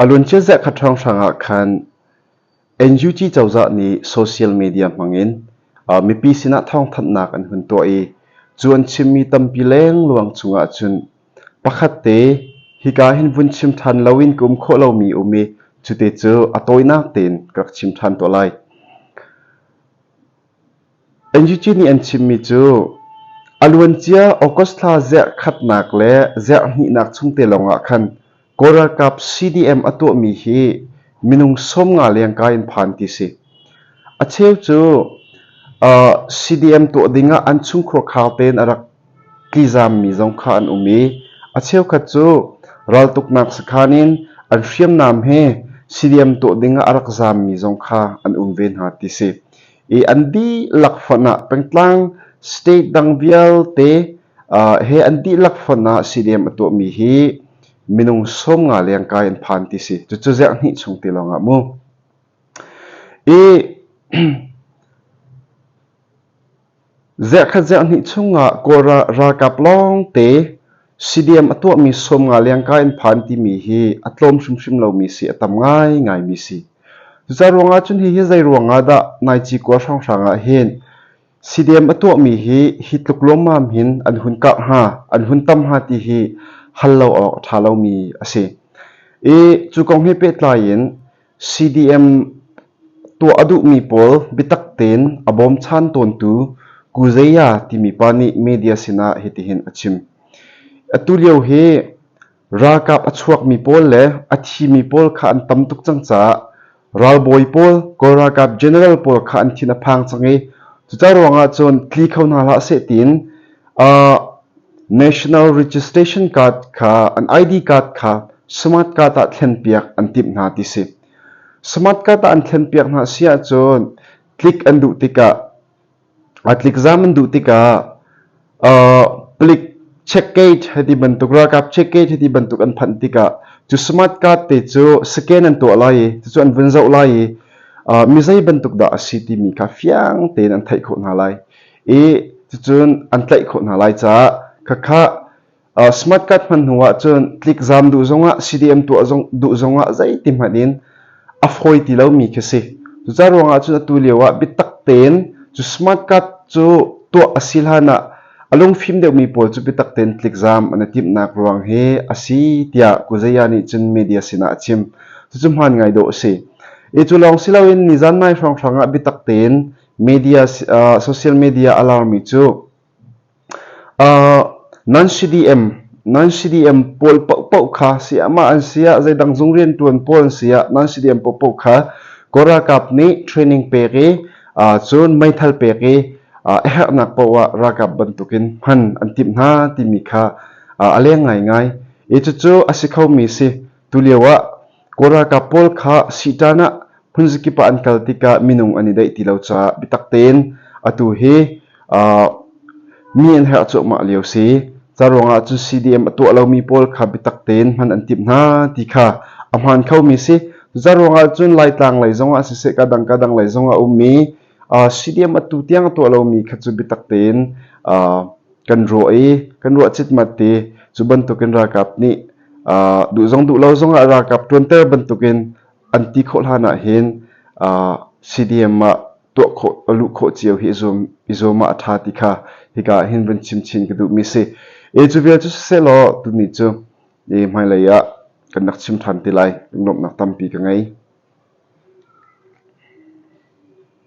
A lun ciaziah kha ṭhawnghhrang ah khan NUG cozah nih social media hmangin mipi sinah thawngthanhnak an hun tuah i cu an chimmi tampi lengluang cungah cun pakhat te hika hin vun chim ṭhan loin ka um khawh lomi a um i cu te cu a tawinak tein ka rak chim ṭhan tuah lai. NUG nih an chimmi cu a luancia August thla zarh khatnak le zarh hnihnak chung te lawngah khan Kawl ralkap CDM a tuahmi hi minung sawmnga lengka in phan ti si. A cheu cu CDM tuah dingah an chungkhua khau tein a rak Tlizaammi zong kha an um i a cheukhat cu raltuknak sakhan in an hriamnam he siliam tuah dingah a rak zaammi zong kha an um ve hna ti si. I an dihlak fon ah pengtlang state dang vialte uh, he an dihlak fon ah siliam a tuahmi hi minung sawm nga leng kai an phan ti si. Cucu ziah hnih chung ti lawng ah mu. I Ziakhat ziahhnih chungah Kawlrah ralkap lawngte CDM a tuahmi sawm nga lengka in phan timi hi a tlawm hrimhrim lomi si, a tam ngaingaimi si. Cucaah ruangah cun hihi zeiruangah dah Naici khua hrawnghrang ah hin CDM a tuahmi hi hi tluk luammam hin an hun karh hnga, an hun tam hnga ti hi hal lo awk a ṭha lomi a si. I cu kong he pehtlai in CDM tuah a duhmi pawl biatak tein a bawmchan tawntu Kuzeya timi pa nih media sinah hitihin a chim. Atulio hi ralkap a chuakmi pawl le a thimi pawl kha an tam tuk cang caah ralbawi pawl, Kawl ralkap general pawl kha an thin a phang cang i cuca ruangah cun tli kho hna hlah seh tiin National registration card kha an ID card kha smart card ah thlenpiak an timh hna ti si. Smart card ah an thlenpiak hna si ahcun tlik an duh tikah tlik zam an duh tikah plik checkgate heti bantuk ralkap checkgate heti bantuk an phanh tikah cu smart card te cu scan an tuah lai i cucu an vun zoh lai i mi zei bantuk dah a si timi kha fiang tein an theih khawh hna lai. i cucun an tlaih khawh hna lai caah khakha smart card hman hnu ah cun tlikzam duh zongah CDM tuah zong duh zongah zeiti hmanh in a fawi ti lomi khi si cucaah ruangah cun atu lio ah biatak tein cu smart card cu tuah a si hlan ah a lungfim deuhmi pawl cu biatak tein tlikzam an i timhnak ruang hi a si tiah Kuzeya nih cun media sinah a chim cucu hmaan ngai dawh a si. E cu lawng si loin nizan mai hrawnghrang ah biatak tein social media a larmi cu non-CDM pawl paohpaoh kha sayamah an si ah zeidang zung riantuan pawl an si ah non-CDM paohpaoh kha Kaw ralkap nih training pek i cun meithal pek i a herhnak paoh ah ralkap bantukin hman an timh hna timi kha a leng ngaingai i cucu a si khomi si tulio ah Kawl ralkap pawl kha Sihtan ah hmunzakip ah an kal tikah minung an i daih ti lo caah biatak tein atu hi mi an herh cuahmah lio si. Ca ruangah cun CDM a tuah lomi pawl kha biatak tein hman an timh hna ti kha a hmaan khomi si. Cu ruangah cun Laitlang lei zongah siseh, kadang kadang lei zongah a ummi Stadium atu tiang a tuah lomi kha cu biatak tein kan ruah i kan ruah citmat i cu bantukin ralkap nih duh zong duh lo zongah ralkap ṭuanter bantukin an ti khawh hlan ahhin stadium ah tuah khawh a luh khawh cio hi i zuam ah a ṭha ti kha hika ahhin vun chim chin ka duhmi si. Cu vial cu sisehlaw tuni cu hmailei ah kan rak chim ṭhan ti lai nuamhnak tampi ka ngei.